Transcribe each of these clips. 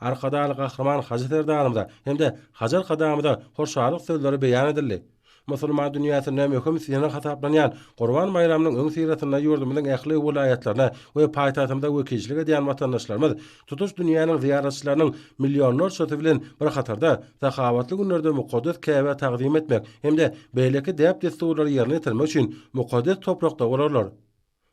Arkadagly Gahryman Hajy Serdarymyza hem-de Hajy Arkadagymyza hoşallyk sözleri beýan edildi. Musulman dünýäsinde möhüm synag hasaplanýan Gurban baýramynyň öňüsyrasynda ýurdumyzyň ähli welaýatlaryna we paýtagtymyza wekilçilik edýän watandaşlarymyz tutuş dünýäniň zyýaratçylarynyň millionlarçasy bilen bir hatarda sahawatly günlerde mukaddes Käbä tagzym etmek hem-de beýleki däp-dessurlary ýerine ýetirmek üçin mukaddes toprakda bolarlar.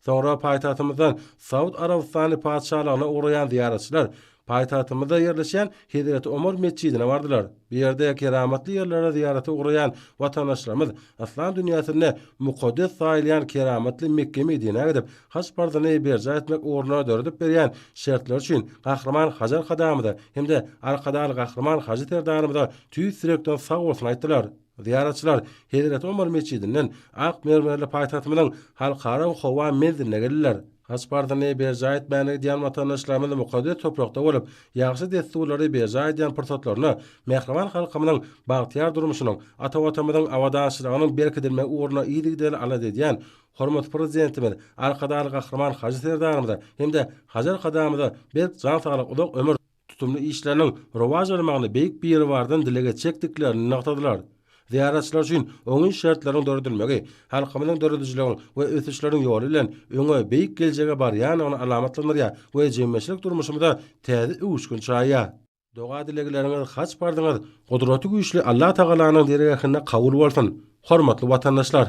Soňra paýtagtymyzdan Saud Arabystany Patyşalygyna ugraýan zyýaratçylar paýtagtymyzda ýerleşýän Hezreti Omar metjidine bardylar. Bu ýerde keramatly ýerlere zyýarata ugraýan watandaşlarymyz yslam dünýäsinde mukaddes saýylýan keramatly Mekge-Medinä gidip, haj parzyny berjaý etmek ugruna döredip berýän şertleri üçin Gahryman Hajy Arkadagymyza hem-de Arkadag Gahryman Hajy Serdarymyza tüýs ýürekden sag bolsun aýtdylar. Zyýaratçylar Hezreti Omar metjidinden ak mermerli paýtagtymyzyň Halkara howa menziline geldiler. Haj parzyny berjaý etmäne gidýän watandaşlarymyz mukaddes toprakda bolup, ýagşy dessurlary berjaý edýän pursatlarynda mähriban halkymyzyň bagtyýar durmuşynyň, ata Watanymyzyň abadançylygynyň berkidilmegi ugrunda yzygiderli alada edýän hormatly Prezidentimiz Arkadagly Gahryman Hajy Serdarymyza hem-de Hajar Kadamyza berk jan saglyk, uzak ömür, tutumly işleriniň rowaç almagyny Beýik Biribardan dileg etjekdiklerini nygtadylar. Zyýaratçylar üçin oňyn şertleriň döredilmegi halkymyzyň döredijiligiň we ösüşleriň ýoly bilen öňe, beýik geljege barýandygyny alamatlandyrýar we jemgyýetçilik durmuşymyza täze öwüşgin çaýýar. Doga-dilegleriňiz haç bardyňyz Gudraty Güýçli Allatagalanyň dergähinde kabul bolsun, hormatly watandaşlar!